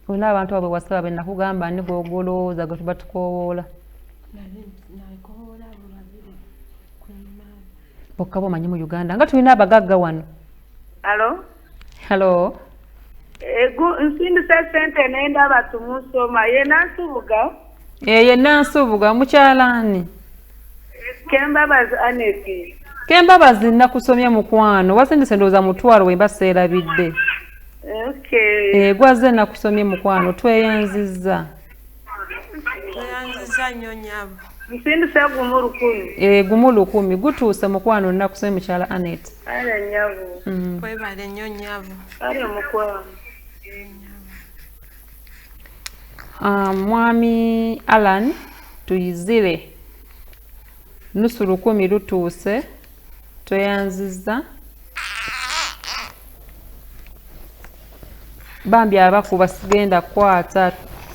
olina abantu abo bewasaba benakugamba ani gwogolowooza gwe tuba tukoowoola bokka bomanyi mu uganda nga tulina abagagga wano halo halo egu nsindise sente nenda batumusoma yenansubuga eyenansubuga eh, mukyalani Kembabazi Aneti. Kembabazi nakusomye mukwano wasindise ndowooza mutwalo wemba seerabidde. Okay. Egwazze eh, nakusomye mukwano tweyanzizza. Tweyanzizza nnyo nyabo. Nsindise gumu lukumi. Eh gumu lukumi gutuuse mukwano nakusomye mukyala Anet. Ala nyabo. Mm. Kwebale nnyo nyabo. Ala mukwano. Ah, mwami alan tuyizire nusu lukumi lutuuse tweyanziza bambi abakuba sigenda kukwata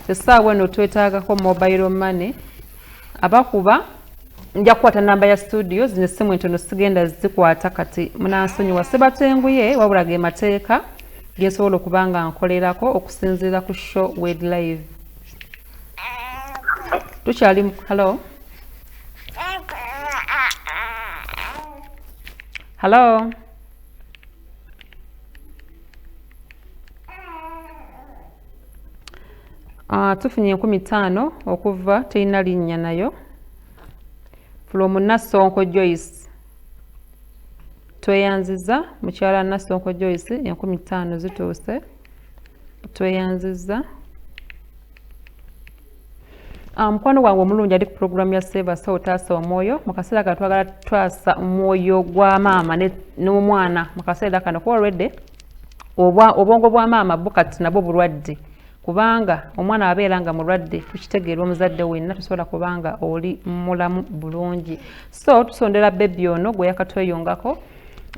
esaawa eno twetagako mobile money abakuba nja kukwata namba ya studio zino essimu entono sigenda zikwata kati munansonyiwa sebatenguye wabula ge mateeka gensobola okuba nga nkolerako okusinziira ku show wed live tukyali mu halo halo ah, tufunye enkumi ttaano okuva terina linnya nayo from Nassonko Joyce tweyanziza mukyala Nassonko Joyce enkumi ttaano zituuse tweyanziza Ah, mukwano gwange omulungi ali ku pulogulaamu ya seebasa otaasa omwoyo mu kaseera kano twagala tutaasa omwoyo gwa maama n'omwana mu kaseera kano kuba olwedde obwongo bwa maama bo kati nabwo bulwadde kubanga omwana abeera nga mulwadde tukitegeera omuzadde wenna tusobola kubanga oli mulamu bulungi so tusondera bebi ono gwe yakatweyongako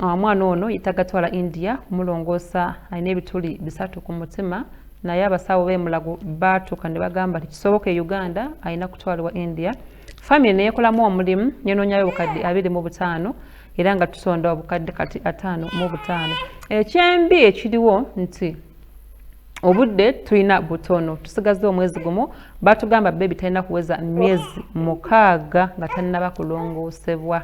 ah, omwana ono yetagatwala india kumulongoosa alina ebituli bisatu ku mutima naye abasawo bemulago baatuka ne bagamba nti kisoboka e uganda alina kutwalibwa india famiry neyekolamu omulimu nenonyayo obukadde abiri mu butaano era nga tusonda obukadde kati ataano mu butaano ekyembi ekiriwo nti obudde tulina butono tusigaza omwezi gumu batugamba bebi talina kuweza myezi mukaaga nga tanaba kulongoosebwa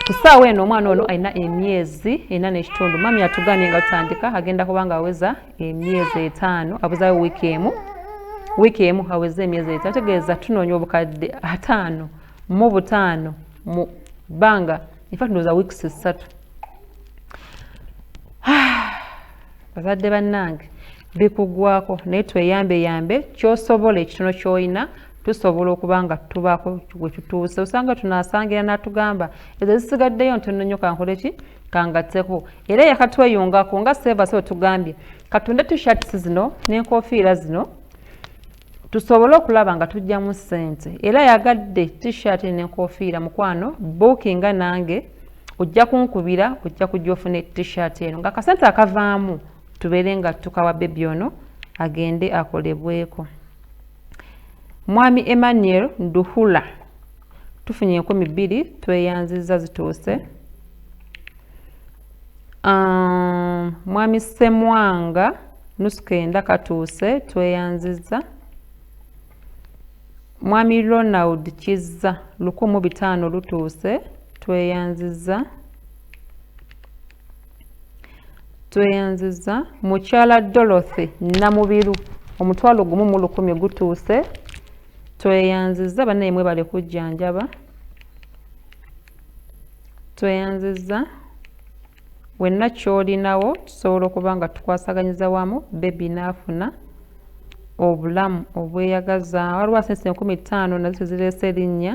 ku ssaawa eno omwana ono alina emyezi ena n'ekitundu mami atugambye nga tutandika agenda kuba nga aweza emyezi etaano abuzayo wiiki emu wiiki emu aweze emyezi etaano ategeeza tunoonya obukadde ataano mu butaano mu bbanga infact ndowooza wiikisi ssatu bazadde bannange bikugwako naye tweyambeyambe kyosobola ekitono kyolina tusobola okuba nga tubaako we tutuuse osanga tunaasangira n'atugamba ezo zisigaddeyo ntono nnyo kankole ki kangatteko era yakatweyungako nga seevasi otugambye katunde tishats zino n'enkofiira zino tusobole okulaba nga tujjamu ssente era yagadde tishati n'enkofiira mukwano buukinga nange ojja kunkubira ojja kujja ofuna tishati eno nga akasente akavaamu tubeere nga tukawa bebi ono agende akolebweko mwami emmanuel nduhula tufunye enkumi bbiri tweyanziza zituuse um, mwami semwanga nuskenda katuuse tweyanziza mwami ronald kizza lukumu bitaano lutuuse tweyanziza tweyanziza mukyala dorothy namubiru omutwalo gumu mu lukumi gutuuse tweyanziza banaye mwebale kujjanjaba tweyanziza wenna kyolinawo tusobola okuba nga tukwasaganyiza wamu bebi naafuna obulamu obweyagaza waliwo asensi enkumi ttaano nazo tezireese erinnya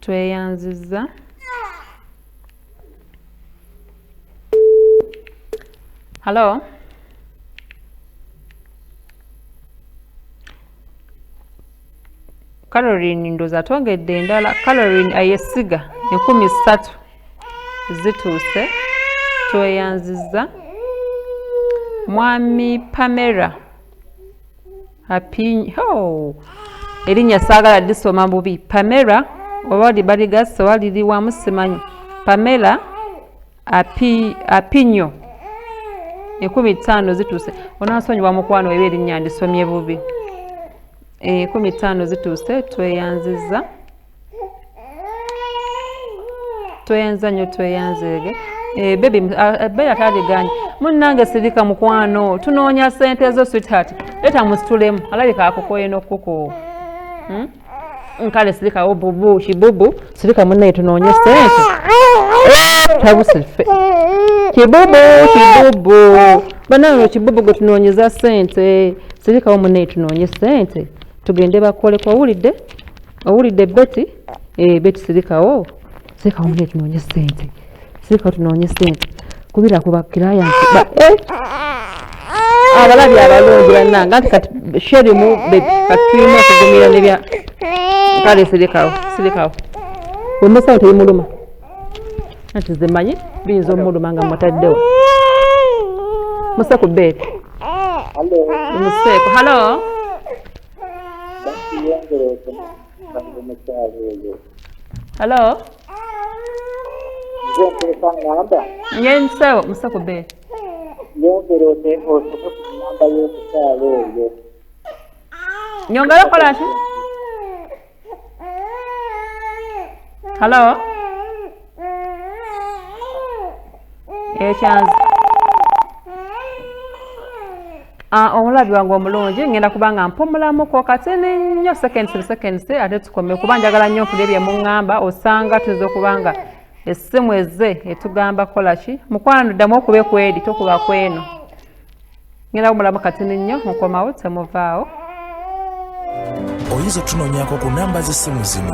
tweyanzizza halo calorin ndoza twongedde endala calorin ayesiga enkumi ssatu zituuse tweyanzizza mwami pamera apinyi oh. erinnya saagala lisoma bubi pamela oba libaligasse oba liriwamu simanyi pamela api, apinyo ekumi ttaano zituuse onansonyiwa mukwano eba erinnya ndisomye bubi ekumi ttaano zituuse tweyanziza tweyanza nyo tweyanzeege eh, bebi ah, eh, beera taliganye munnange sirika mukwano tunoonya sente ezo sweetheart leta musitulemu alabika akukoye nokukukuwa hmm? nkale sirika obubu kibubu sirika munnaye tunoonye sente tabusife kibubu kibubu banange kibubu gwe tunoonyeza sente sirikawo munnaye tunoonye sente tugende bakoleko owulidde owulidde beti eh, beti sirikawo sirikawo mune tunoonye sente sirikawo tunoonye sente kubira ku bakirayanti eh! abalabye abalungi bannange anti kati sherimu beti kati tulina okugumira nebya kale sirikawo sirikawo omusawo tebimuluma anti nze manyi biyinza omuluma nga mutaddewo muse ku beeti museeko halo halo ngensewo muse ku beeti nyongera okola ki halo ekyanzi ah, omulabi wange omulungi ngenda kuba nga mpumulamuko katini nnyo seconds to seconds ate tukome kuba njagala nnyo okulya bye muŋŋamba osanga tuyinza okuba nga essimu ezze etugamba kola ki mukwano ddamu okube kweri tokuba kweno ngenda kumulamu katini nnyo mukomawo temuvaawo oyinza otunonyako ku namba z'essimu zino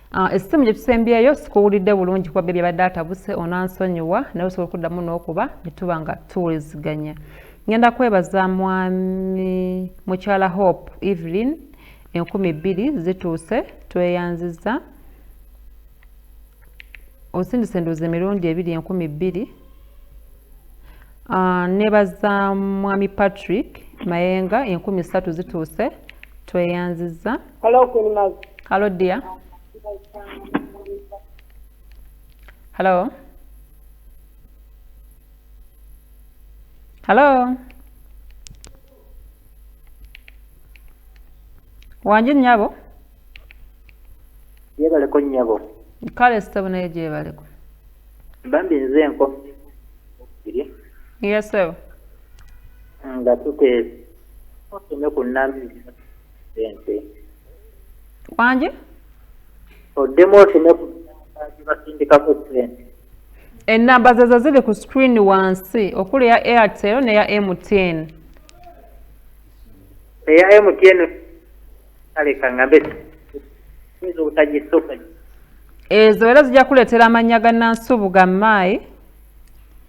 Ah, essimu gye tusembyeyo sikuwulidde bulungi kuba bebi abadde atabuse onansonyiwa naye osobola okuddamu n'okuba ne tuba nga tuwuliziganya ngenda kwebaza mwami mukyala hope evelyn enkumi bbiri zituuse tweyanziza osindise enduuza emirundi ebiri enkumi bbiri ah, nebaza mwami patrick mayenga enkumi ssatu zituuse tweyanziza Hello, Queen Maz. Hello, dear. Hello. Hello. Wanji nyabo? Yebale ko nyabo. Kale sitabu naye gyebale ko. Bambi nze nko. Yes, sir. Nga tuke. Otume ku nami. wangi oddemu oteme ku basindikako sente ennamba zezo ziri ku screen wansi okuli eya airtel neya mtn eya mtn aleka ngambe yinza obutagisooka ezo era zijja kuleetera amannya ga nansubuga maayi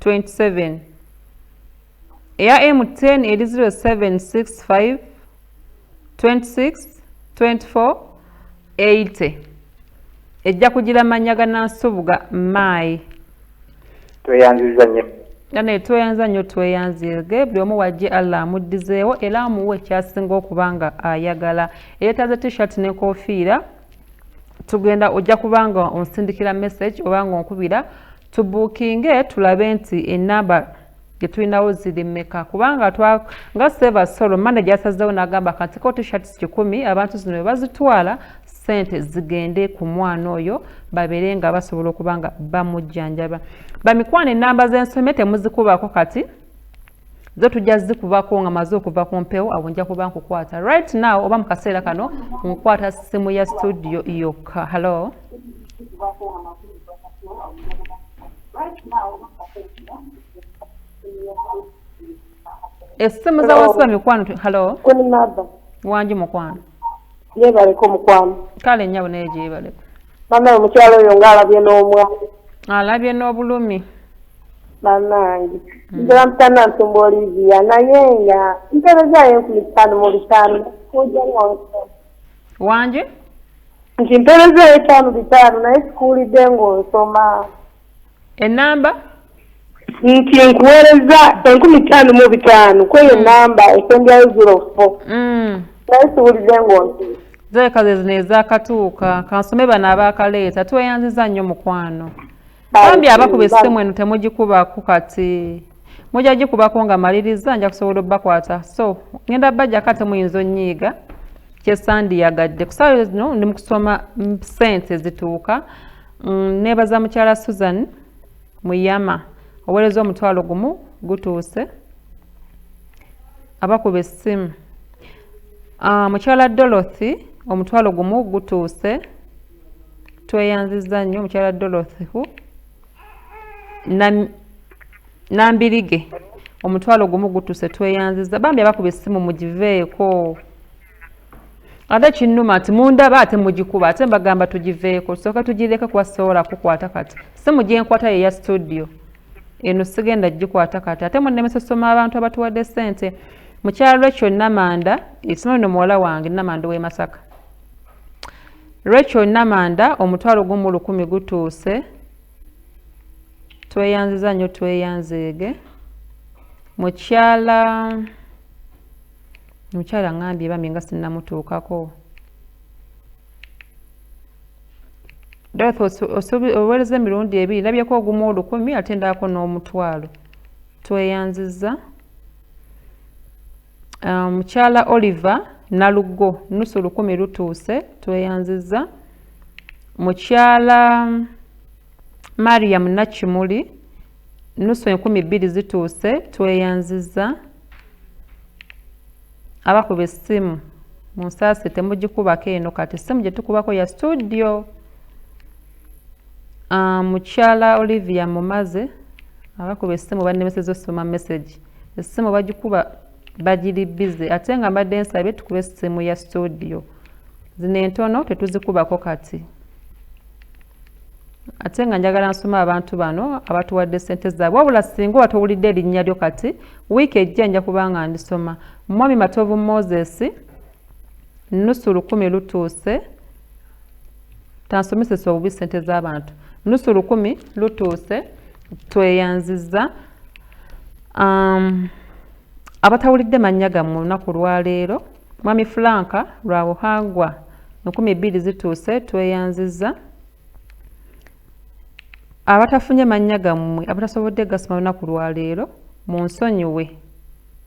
27 eya M10 eri 0765 26 24 80 ejja kugira mannya ga nansubuga maayi tweyanziza nnyo naye tweyanza nnyo tweyanzirge buli omu wajje allah amuddizeewo era amuwe ekyasinga okuba nga ayagala eyetaaze t-shirt n'enkofiira tugenda ojja kuba nga onsindikira message oba nga onkubira tubuukinge tulabe nti enamba gyetulinawo ziri mmeka kubanga nga seva solo manda gyasazewo nagamba kantiko tishats kikumi abantu zino webazitwala sente zigende ku mwana oyo babeere nga basobola okuba nga bamujjanjaba bamikwano enamba zensomye temuzikubako kati zo tujja zikubako nga maze okuva ku mpewo awo nja kuba nkukwata right now oba mu kaseera kano nkukwata simu ya studio yokka hallo essimu za wasiba mikwano hallo wangi mukwano yebaleko mukwano kale nyabo naye gyebaleko banaye omukyalo oyo nga alabye n'omwa alabye n'obulumi banange hmm. nzira mutana nsumba olivia naye nga mperezayo enkumi ttaano mu bitaano wangi nti mperezayo etaano bitaano naye sikuwulidde ng'onsoma enamba nti nkuweereza enkumi ttaano mu bitaano kweyo mm. namba esembyayo zero fo mm. naye siwulidde ngonsi zoleka zezino ezakatuuka kansome bano abakaleeta tweyanziza nnyo mukwano bambi abakuba essimu eno temugikubako kati mujja gikubako nga maliriza nja kusobola obakwata so ngenda bajjako ate muyinza onyiiga kyesandiyagadde kusaayo zino ndi mukusoma sente zituuka Mm, nebaza mukyala Susan Muyama owereza omutwalo gumu gutuuse abakuba essimu ah, mukyala Dorothy omutwalo gumu gutuuse tweyanziza nnyo omukyala Dorothy hu nambirige omutwalo gumu gutuuse tweyanziza bambi abakuba essimu mugiveeko ate kinnuma nti mundaba ate mugikuba ate mbagamba tugiveeko tusooke tugireke kuba sisobola kukwata kati simu gyenkwata yeya studio eno sigenda gikwata kati ate munemesa osoma abantu abatuwadde sente mukyalo lwekyo namanda ekino lino muwala wange namanda owe masaka lwekyo namanda omutwalo gumu lukumi gutuuse tweyanziza nnyo tweyanzeege mukyala Omukyala ngambye bambi nga sinamutuukako. Dorothy owereza emirundi ebiri labyeko ogumu olukumi ate ndako n'omutwalo. Tweyanziza. Ah, mukyala um, Oliver Nalugo nusu lukumi lutuuse tweyanziza. Mukyala um, Mariam Nakimuli nusu enkumi bbiri zituuse tweyanziza. abakuba essimu munsaasi temugikubako eno kati essimu gye tukubako ya studio ah, mukyala olivia mumaze abakuba essimu bannemeseza osoma message essimu bagikuba bagiri bize ate nga mbadde nsabye tukube essimu ya studio zino entono tetuzikubako kati ate nga njagala nsoma abantu bano abatuwadde sente zaabwe wabula singa oba towulidde erinnya lyo kati wiiki ejja nja kuba nga ndisoma mwami matovu moses nusu lukumi lutuuse tansomesesa obubi sente z'abantu nusu lukumi lutuuse tweyanziza um, abatawulidde mannya gammwe olunaku lwaleero Mwami Frank lwa buhangwa enkumi bbiri zituuse tweyanzizza abatafunye mannya gammwe abatasobodde gasoma lunaku lwaleero mu nsonyiwe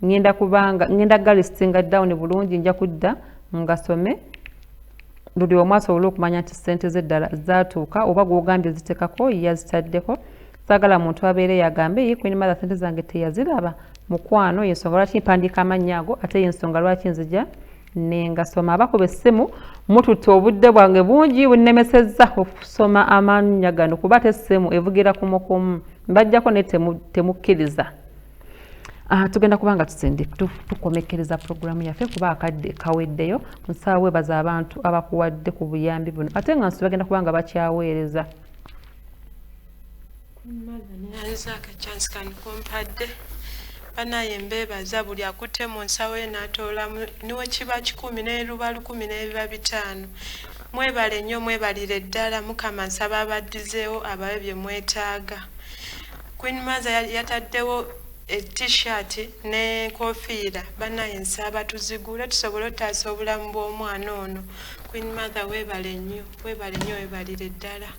ngenda kubanga ngenda galisinga down bulungi nja kudda ngasome buli omu asobole okumanya nti ssente ze ddala zaatuuka oba gwogambye zitekako yazitaddeko sagala muntu abeere yagambe ye queen mother sente zange teyaziraba mukwano yensonga lwaki mpandiika amannya ago ate yensonga lwaki nzija nengasoma abakuba essimu mututte obudde bwange bungi bunnemesezza okusoma amannya gano kuba ate essimu evugira kumukumu mbajjako naye temukkiriza temu Ah, tugenda kuba nga tusindi tukomekkereza puroguramu yaffe kuba akadde kaweddeyo nsaawe baza abantu abakuwadde ku buyambi buno ate nga nsi bagenda kuba nga bakyaweereza nze akachansi kanikumpadde banaye mbebaza buli akutte mu nsawo ye natoolamu niwe kiba kikumi neruba lukumi nebiba bitaano mwebale nnyo mwebalire ddala mukama nsaba abaddizeewo abawe bye mwetaaga queen maza yataddewo t-shirt ne kofiira banaye nsaba tuzigule tusobole otaasa obulamu bw'omwana ono queen mother webale nnyo webale nnyo webalire ddala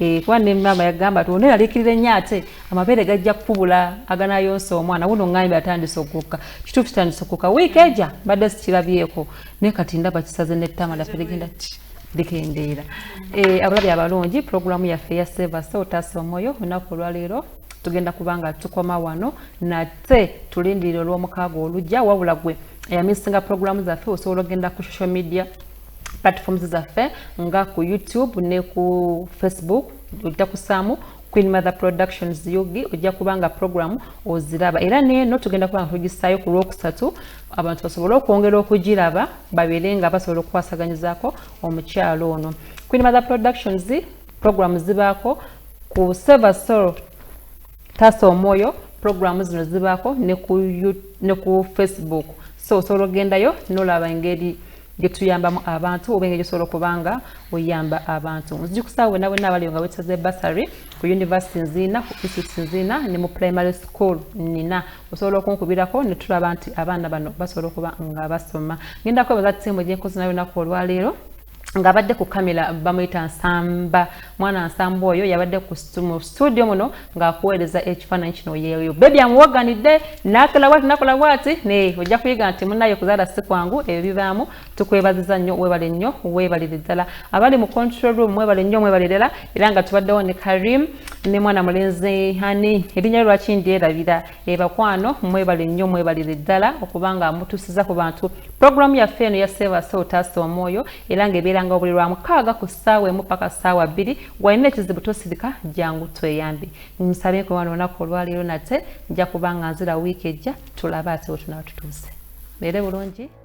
Eh, kuba ne maama yagamba nti ono yalikirira ennyo ate amabeere gajja kukubula aganayonsa omwana wuno ŋŋambye atandise okukka kituufu kitandise okukka wiiki eja mbadde sikirabyeko naye kati ndaba kisaze nettama laffe ligenda ki likendeera eh, abalabi abalungi pulogulaamu yaffe ya sevasa otaasa omwoyo olunaku olwaleero tugenda kuba nga tukoma wano nate tulindirira olw'omukaaga olujja wabula gwe eyamisinga pulogulaamu zaffe osobola okugenda ku social media platforms zaffe nga ku youtube ne ku facebook ojja kusaamu queen mother productions ug ojja kubanga program oziraba era neeno tugenda kubanga tugisaayo ku lwokusatu abantu basobole okwongera okugiraba babeere nga basobola okukwasaganyizako omukyalo ono queen mother productions program zibaako ku server soul taasa omwoyo pulogulaamu zino zibaako ne ku facebook so osobola okugendayo nolaba engeri gyetuyambamu abantu oba engeri gyosobola okuba nga oyamba abantu nzijukusaawo wena wena abaliyo nga wetaze basary ku university nziina ku institute nziina ne mu primary school nina osobola okunkubirako netulaba nti abaana bano basobola okuba nga basoma ngendako ebaza tiimu gyenkozi nayo naku olwaleero ng'abadde ku kamera bamuyita nsamba mwana nsamba oyo yabadde mu studio muno ng'akuweereza ekifaananyi kino yeeyo bebi amuwaganidde nakola bwati nakola bwati naye ojja kuyiga nti munaye okuzaala si kwangu ebyo bibaamu tukwebaziza nnyo webale nnyo webalire ddala abali mu control room mwebale nnyo mwebalirela era nga tubaddewo ne karim ne mwana mulenzi hani erinnya lwaki ndyerabira Ebakwano mwebale nnyo mwebalire ddala okuba nga mutusiza ku bantu pulogulaamu yaffe eno ya seebase otaasa omwoyo era ng'ebeeranga obuli lwa mukaaga ku ssaawa emu paka ssaawa bbiri walina ekizibu tosirika jangu tweyambe nsabe kwe wano olunaku olwaleero nate nja kuba nga nzira wiiki ejja tulabe ate wetunaba tutuuse beere bulungi